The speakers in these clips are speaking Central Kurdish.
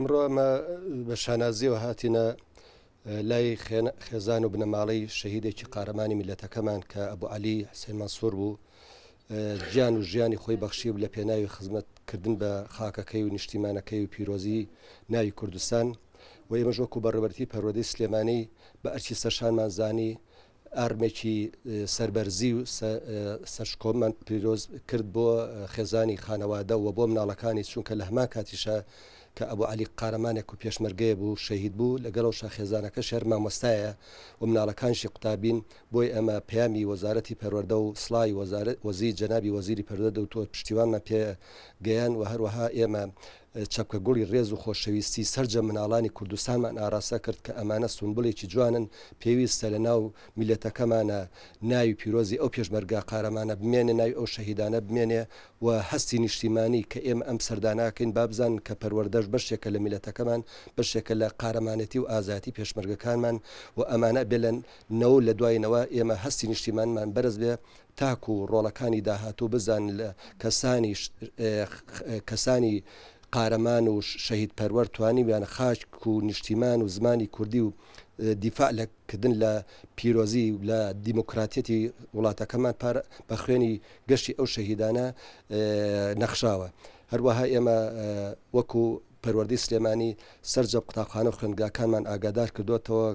ئمڕۆ ئەمە بە شانازیەوە هاتینە لای خێزان و بنەماڵەی شەهیدێکی قارەمانی میلەتەکەمان کە ئەبو علی حسێن مەسوور بوو گیان و ژیانی خۆی بەخشی و لە پێناوی خزمەتکردن بە خاکەکەی و نیشتیمانەکەی و پیرۆزی ناوی کوردستان و ئێمەش وەکو بەڕێوەبەرێتی پەروەردەی سلێمانی بە ئەرکی سەرشانمان زانی ئارمێکی سەربەرزی و سەرشکۆمان پیرۆز کرد بۆ خێزانی خانەوادە و بۆ مناڵەکانی چونکە لە هەمان کاتیشە کە ئەبوو علی قارەمانێک و پێشمەرگەیە بوو شەهید بوو لەگەڵەوە شاخێزانەکە شەر مامۆستایە و مناڵەکانشی قوتابین بۆی ئەمە پەیامی وەزارەتی پەروەەردە و سڵی وەزارت وەزی جەنابی وەزیری پەروەەردە و تۆ پشتیوانمان پێ گەیان و هەروەها ئێمە چەپکە گوڵی ڕێز و خۆشەویستی سەرجەم مناڵانی کوردستانمان ئاراستە کرد کە ئەمانە سونبلێکی جوانن پێویستە لە ناو میلەتەکەمانە ناوی پیرۆزی ئەو پێشمەرگە قارەمانە بمێنێ ناوی ئەو شەهیدانە بمێنێ و هەستی نیشتیمانی کە ئێمە ئەم سەردانەکەین با بزانن کە پەروەردەش بەشێکە لە میلەتەکەمان بەشێکە لە قارەمانێتی و ئازایەتی پێشمەرگەکانمان و ئەمانە بێ لە نەوە لە دوای نەوە ئێمە هەستی نیشتیمانمان بەرز بێ تاکو ڕۆڵەکانی داهاتوو بزانن لە کەسانی کەسانی قارەمان و شەهید پەروەر توانیویان خاک و نیشتیمان و زمانی کوردی و دیفاع لە کردن لە پیرۆزی و لە دیموکراتەتی وڵاتەکەمان پار بە خوێنی گەشتی ئەو شەهیدانە نەخشاوە هەروەها ئێمە وەکو پەروەردەی سلێمانی سەرجە قوتابخانە و خوێندگاکانمان ئاگادار کردۆتەوە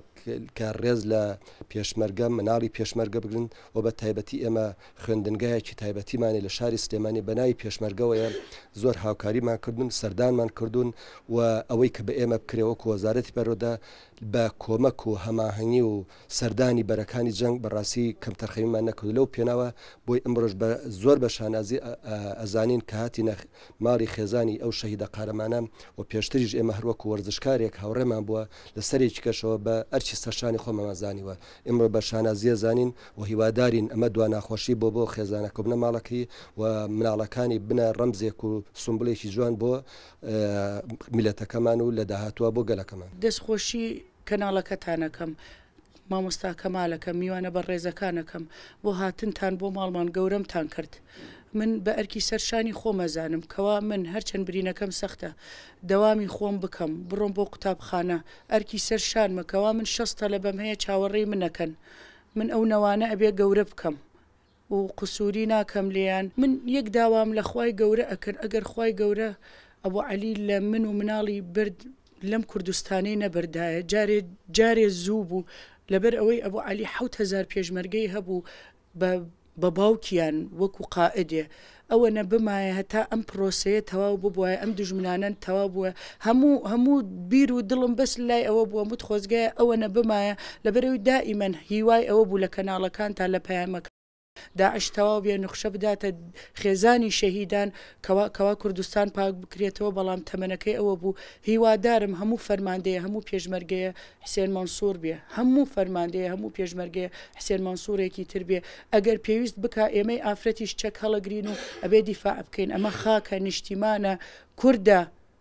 کە ڕێز لە پێشمەرگە مناڵی پێشمەرگە بگرن و بە تایبەتی ئێمە خوێندنگایەکی تایبەتیمانی لە شاری سلێمانی بەناوی پێشمەرگەوەیە زۆر هاوکاریمان کردون سەردانمان کردوون و ئەوەی کە بە ئێمە بکرێوەکو وەزارەتی پەرۆدە بە کۆمەک و هەماهنگی و سەردانی بەرەکانی جەنگ بە ڕاستی کەمتەرخەمیمان نەکرد لەو پێناوە بۆی ئەمڕۆش بە زۆر بە شانازی ئەزانین کە هاتینە ماڵی خێزانی ئەو شەهیدە قارەمانە و پێشتریش ئێمە هەروەکو وەرزشکارێک هاوڕێمان بووە لە سەرێکی کەشەوە بە ئەرچی سەرشانی خۆمەمان زانیوە ئمڕۆ بە شانازیە زانین و هیوادارین ئەمە دوا ناخۆشی بۆ بۆ خێزانە کۆبنە ماڵەکەی و مناڵەکانی بنە ڕەمزێک و سمبلێکی جوان بۆ میلەتەکەمان و لە داهاتوە بۆ گەلەکەمان دەستخۆشی کەناڵەکەتانەکەم، مامۆستا کەمالەکەم، میوانە بەڕێزەکانەکەم بۆ هاتنتان بۆ ماڵمان گەورەمتان کرد. من بە ئەرکی سەر شانی خۆم ئەزانم کەوا من هەرچەند برینەکەم سەختە دەوامی خۆم بکەم بڕۆم بۆ قوتابخانە ئەرکی سەر شانمە کەوا من شەست تەلەبەم هەیە چاوەڕێی من ئەکەن من ئەو نەوانە ئەبێ گەورە بکەم و قسوری ناکەم لێیان من یەک داوام لە خوای گەورە ئەکرد ئەگەر خوای گەورە ئەبو عەلی لە من و مناڵی برد لەم کوردستانەی نەبردایە جارێ جارێ زوو بوو لەبەر ئەوەی ئەبو عەلی حەوت هەزار پێشمەرگەی هەبوو بە بە باوکیان وەکو قائدێ ئەوەنە بمایە هەتا ئەم پرۆسەیە تەواو ببوایە ئەم دوژمنانەن تەواو بووە هەموو هەموو بیر و دڵم بەس لای ئەوە بووە مت خۆزگایە ئەوەنە بمایە لەبەرەوەی دائیمەن هیوای ئەوە بوو لە کەناڵەکانتا لە پەیامەکە داعش تەواو بێ نوخشە بداتە خێزانی شەهیدان کەوا کەوا کوردستان پاک بکرێتەوە بەڵام تەمەنەکەی ئەوە بوو هیوادارم هەموو فەرماندەیە هەموو پێشمەرگەیە حسێن مەنسور بێ هەموو فەرماندەیە هەموو پێشمەرگەیە حسێن مەنسورێکی تر بێ ئەگەر پێویست بکا ئێمەی ئافرەتیش چەک هەڵەگرین و ئەبێ دیفاع بکەین ئەمە خاکە نیشتیمانە کوردە